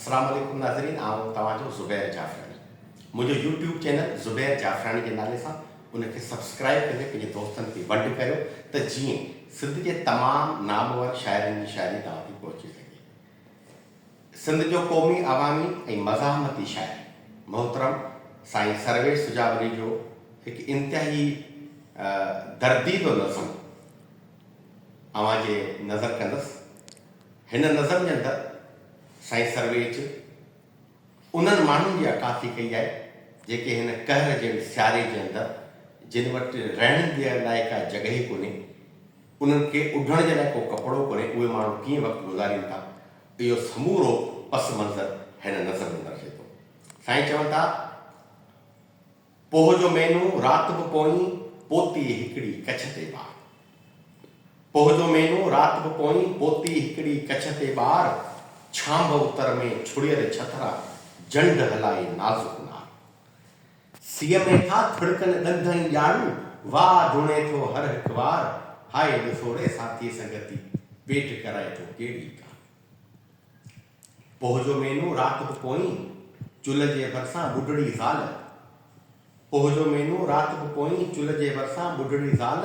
السلام عليڪم ناظرين آئون توهان جو زبير جعفراڻي منهنجو يوٽيوب چينل زبير جعفراڻي جي نالي سان ان کي سبسڪرائب ڪندي پنهنجي دوستن کي ونڊ ڪريو ته جيئن سنڌ جي تمام نامور شاعرن جي شاعري توهان تي پهچي سگهي سنڌ جو قومي عوامي ۽ مزاحمتي شاعر محترم سائين سرويش سجاولي جو هڪ انتهائي درديدو نظم اوهان جي نظر ڪندس. هن نظم جي اندر سائين سرويچ انهن ماڻهن جي عڪاسي ڪئي آهي، جيڪي هن قهر جهڙي سياري جي اندر جن وٽ رهڻ جي لاء ڪا جڳهه ئي ڪونهي، انهن کي اڍڻ جي لاء ڪو ڪپڙو ڪونهي، اهي ماڻهو ڪيئن وقت گذارين ٿا، اهو سمورو پس منظر هن نظم ۾ درجي ٿو. سائين چون ٿا. پوھ جو مھينو رات به پوئين پوتي ھڪڙي ڪڇ تي ٻار پوھ جو مھينو رات به پوئين پوتي ھڪڙي ڪڇ تي ٻار ڇانڀ اتر ۾ ڇڙيل ڇٿرا جنڊ ھلائي نازڪ نار سيء ۾ ٿا ٿڙڪن ڏند ۽ ڄاڙون واھ ڌوڻي ٿو ھر ھڪ وار ھاء ڏسوڙي ساٿي سنگتي پيٽ ڪرائي ٿو ڪيڙي ڪار. پوھ جو مھينو رات بھ پوئين چلھ جي ڀرسان ٻڍڙي زال پوھ جو مھينو رات بھ پوئين چلھ جي ڀرسان ٻڍڙي زال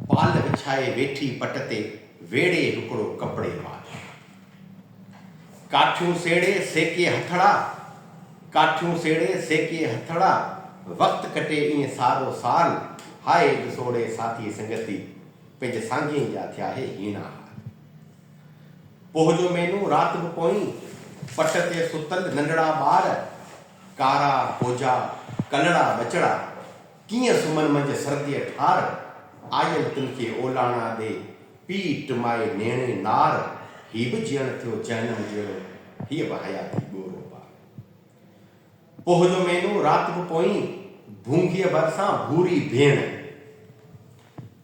پال وڇائي ويٺي پٽ تي ويڙھي ھڪڙو ڪپڙي مال ڪاٺيون سيڙي سيڪي ھٿڙا ڪاٺيون سيڙي سيڪي ھٿڙا وقت ڪٽي ائين سارو سال ھائي ڏسوڙي ساٿي سنگتي پنھنجي سانگين جا ٿيا ھي ھيڻا ھال پوھ جو مينھون رات به پوئين، پٽ تي ستل ننڍڙا ٻار، ڪارا ڪوجا ڪلڙا ٻچڙا، ڪيئن سمھن منجھ سرديء ٺار، آيل تن کي اولاڻا ڏي، پيء ٽمائي نيڻي نار، ھي به جيئڻ ٿيو جهنم جهڙو، ھيء به حياتي ڳورو پار. پوھ جو مينھون رات به پوئين، ڀونگيء ڀرسان ڀوري ڀيڻ.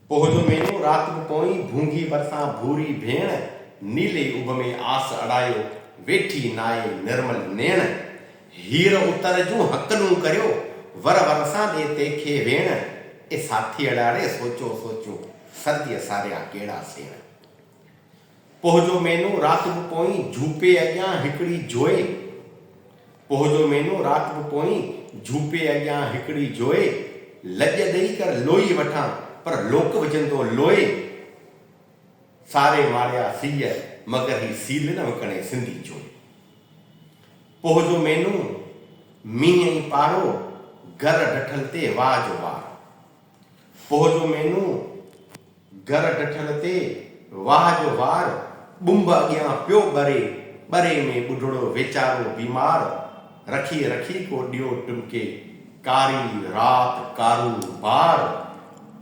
پوھ جو مينھون رات به پوئين، ڀونگيء ڀرسان ڀوري ڀيڻ. نيلي اڀ ۾ آس اڙايو، ويٺي نائي نرمل نيڻ. ھير اتر جون ھڪلون ڪريو، ور ور سان ڏي تيکي ويڻ. اي ساٿيئڙا ڙي سوچو سوچون، سرديء ساريا ڪيڙا سيڻ. پوھ جو مينو رات به پوئين جھوپي اڳيان ھڪڙي جوئي پوھ جو مينو رات به پوئين جھوپي اڳيان ھڪڙي جوئي لڄ ڏئي ڪر لوئي وٺان پر لوڪ وجھندو لوئي ساري ماريا سيء مگر ھي سيل نه وڪڻي سنڌي چوئي پوھ جو مينو مينھن ۽ پارو گر ڊٺل تي واء جو وار پوء جو مينو گر ڊٺل تي واهه جو وار ٻنب اڳيان پيو ٻري، ٻري ۾ ٻڍڙو ويچارو بيمار رکي رکي ڪو ڏيئو ٽمڪي، ڪاري رات ڪارو بار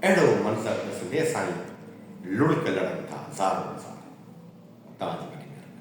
اهڙو منظر ڏسندي اسانئي لڙڪ لڙن ٿا زارو زار. توهان جي وڏي مهرباني.